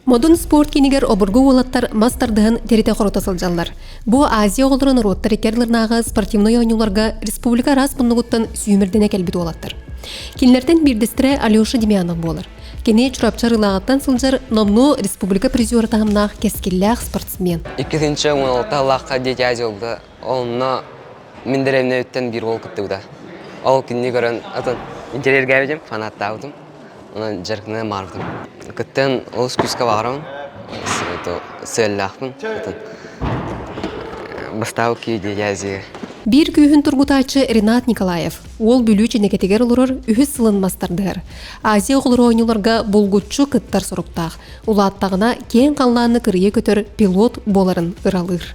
Модун спорт киинигэр обургу уолаттар мас тардыһан тиритэ хорута сылдьаллар. Бу Азия оҕолоро норуоттар икки ардыларынааҕы спортивнай оонньууларга республика араас муннугуттан сүүмэрдэнэ кэлбит уолаттар. Кинилэртэн биирдэстэрэ Алеша Демьянов буолар. Кини Чурапчы Арыылааҕыттан сылдьар номнуо республика призера таһымнаах кэскиллээх спортсмен. Иккитинчи уналыктаһылаахха дети Азия Онно мин дэриэбинэбиттэн биир уол кыттыбыта. Ол кинини көрөн атын интэриэргээбитим, фанаттаабытым. Онон дьарыктана маарбытым. Кыттан олус күүскэ баҕарабын. Сыаллаахпын. Бастаабы киедиязига. Биир күүһүн тургутааччы Ренат Николаев уол Бүлүү Чинэкэтигэр олорор үһүс сылын мастардыгар Азия оҕолору оонньууларга булгуччу кыттар соруктаах, улааттаҕына киэҥ халлааны кырыйа көтөр пилот буоларын ыралыыр.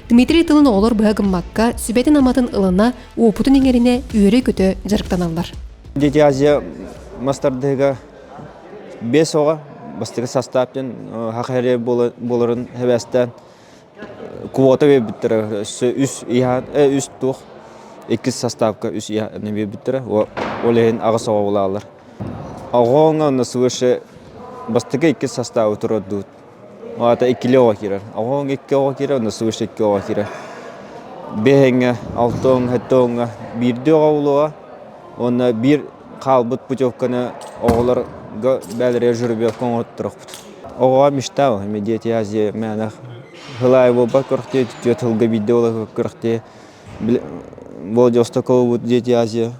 Дмитрий тылын оҕолор быһа гыммакка, сүбэтин-аматын ылына, уопутун иҥэринэ үөрэ-көтө дьарыктаналлар. Дети Азия мастардыга бес оҕа бастыгы састаап ден хахаре боларын хевесте квота бебиттера үс иһа үс тух иккис састаапка үс иһа бебиттера олехин агас оҕа булалар. Оҕоңа свыше бастыгы иккис састаабы турардуут. Аата иккилэ оҕо киирэр. Оҕоҥ икки оҕо киирэр уонна сыгыш икки оҕо киирэр. Биэһэҥҥэ, алтыҥҥа, һэттэҕиҥҥэ биирдии оҕо буолуоҕа уонна биир хаалбыт путевканы оҕолорго бэйэлэригэр журбилка оҥорторохпут. Оҕоҕо мечта эми дети Азии мээнэ хылаай буолбат күрэхтии түтүө тылга биирдэ буола күрэхтии болдьосто кылбыт дети Азия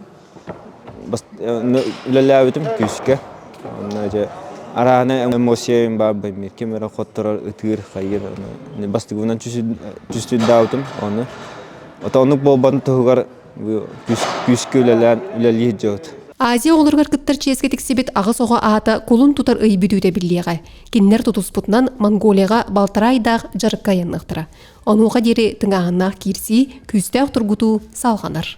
үлэлээбитим күүскэ онно дьэ араана эмоциям баарбын мир ким эрэ хотторор ытыыр хайыыр бастыгынан түстүрдаабытым ону ото оннук буолбатын туһугар күүскэ үлэлээн үлэлиир дьоҕут Азия оҕолоругар кыттар чиэскэ тиксибит аҕыс оҕо аата кулун тутар ый бүтүүтэ биллиэҕэ. Кинилэр тутуспутунан Монголияҕа балтараа айдаах дьарыкка айанныахтара. Онуоха диэри тыҥааһыннаах киирсии, күүстээх тургутуу салҕанар.